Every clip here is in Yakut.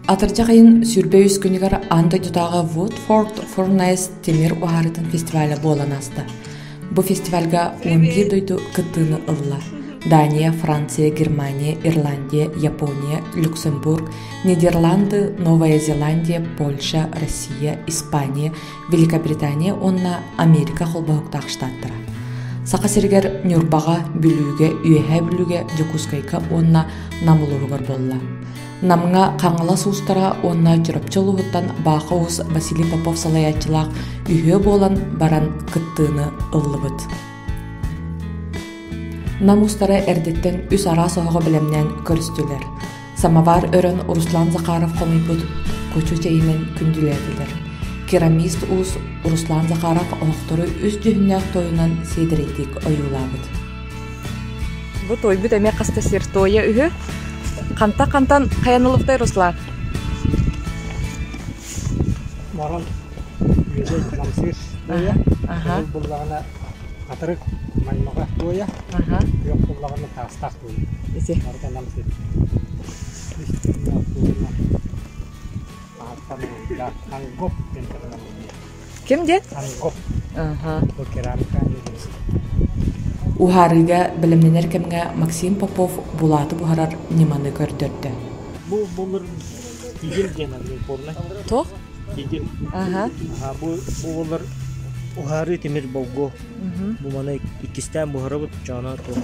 Атырдьах ыйын сүүрбэ үс күнүгэр аан дойдутааҕы Woodford Furnace тимир уһаарыытын фестивалэ буолан ааста. Бу фестивальга он биир дойду кыттыыны ылла – Дания, Франция, Германия, Ирландия, Япония, Люксембург, Нидерланды, Новая Зеландия, Польша, Россия, Испания, Великобритания уонна Америка холбоһуктаах штаттара. Саха сиригэр Ньурбаҕа, Бүлүүгэ, Үөһээ Бүлүүгэ, Дьокуускайга уонна Нам улууһугар буолла. Намҥа Хаҥалас уустара уонна Чурапчы улууһуттан Баха уус Василий Попов салайааччылаах үһүө буолан баран кыттыыны ыллыбыт. Нам устара эрдэттэн үс араас оһоҕо бэлэмнээн көрүстүлэр. Самовар өрөн Руслан Захаров хомуйбут кучу чэйинэн күндүлээтилэр. Керамист уус Руслан Захаров олохтору үс дьүһүннээх тойунан сиэдэрэйдик ойуулаабыт. Бу тойбут эмиэ хаста сир тойа үһү. Ханта хантан хаянылыхтай Руслан? Маран үөзей намсыыр тойа. Аха. Буллаҕына атырык маймаҕа тойа. Аха. Күөх буллаҕына таастаах Ити. Ким диэн? Уһаарыыга бэлэмнэнэр кэмҥэ Максим Попов булааты буһарар ньыманы көрдөрдө. Бу булыр тигил диэн Оренбурна. Туох? Тигил. Аха. Аха бу бу булар уһаарыы тимир болгу. Бу маны иккистээн буһарабыт чаана туох.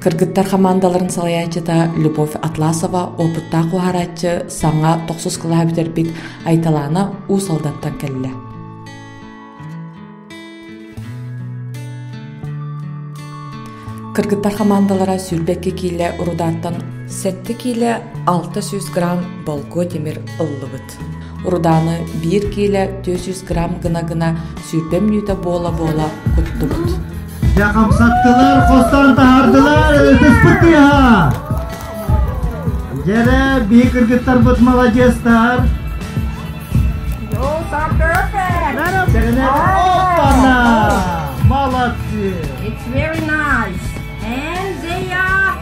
Кыргыттар хамаандаларын салайааччыта Любовь Атласова, опыттаах уһарааччы, саҥа тохсус кылаһа бүтэрбит Айталаана Уус Алдантан кэллэ. Кыргыттар хамаандалара сүүрбэккэ киилэ рудааттан сэттэ киилэ 600 грамм болго тимир ыллыбыт. Урудааны биир киилэ түөрт сүүс грамм гына-гына сүүрбэ мүнүүтэ буола-буола куттубут. Дьэ хамсаттылар, хостон таһардылар, ытыспыт тыаһа! Дьэрэ, биһи кыргыттарбыт маладьыастар! Оппана! Молодцы! It's very nice! And they are...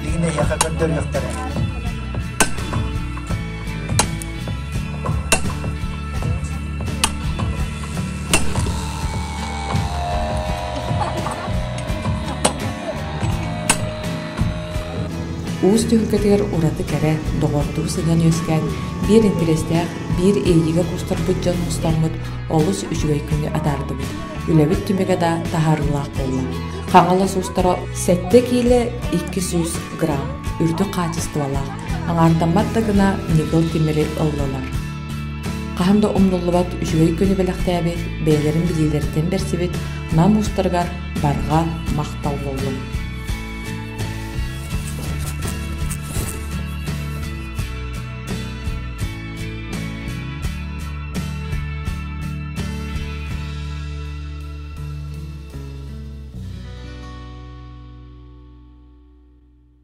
Hindi niya kakantariyak Уус түһүлгэтигэр ураты кэрэ, доҕордуу сыдьан үөскээн, биир интэриэстээх, биир иэйиигэ кустарбыт дьон мустаммыт олус үчүгэй күнү атаардыбыт. Үлэбит түмүгэ да таһаарыылаах буолла. Хаҥалас уустара сэттэ киилэ, икки сүүс грамм, үрдүк хаачыстыбалаах. Аҥаардаммат да гына Ньыкыл Тимири ыллылар хаһан да умнуллубат үчүгэй күнү бэлэхтээбит, бэйэлэрин билиилэриттэн бэрсибит нам уустарыгар барҕа махталлыллар.